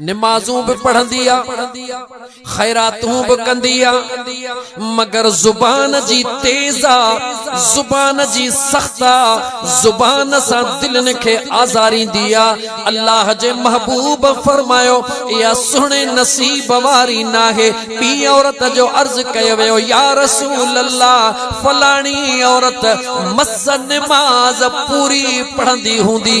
نمازون به پڙهندي آ، خيراتون به ڪندي آ، مگر زبان جي تيز آ، زبان جي سخت آ، زبان سان دلين کي آزاريندي آ، الله جي محبوب فرمايو، اها سهڻي نصيب واري ناهي، ٻي عورت جو عرض ڪيو ويو، يا رسول الله فلاڻي عورت مس نماز پوري پڙهندي هوندي.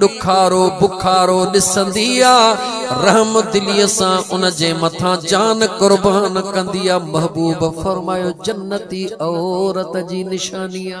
ڏکارو بکارو ڏسندي آ، رحم دليء سان ان جي مٿان جان قربان ڪندي آ، محبوب فرمايو جنتي عورت جي نشاني آ.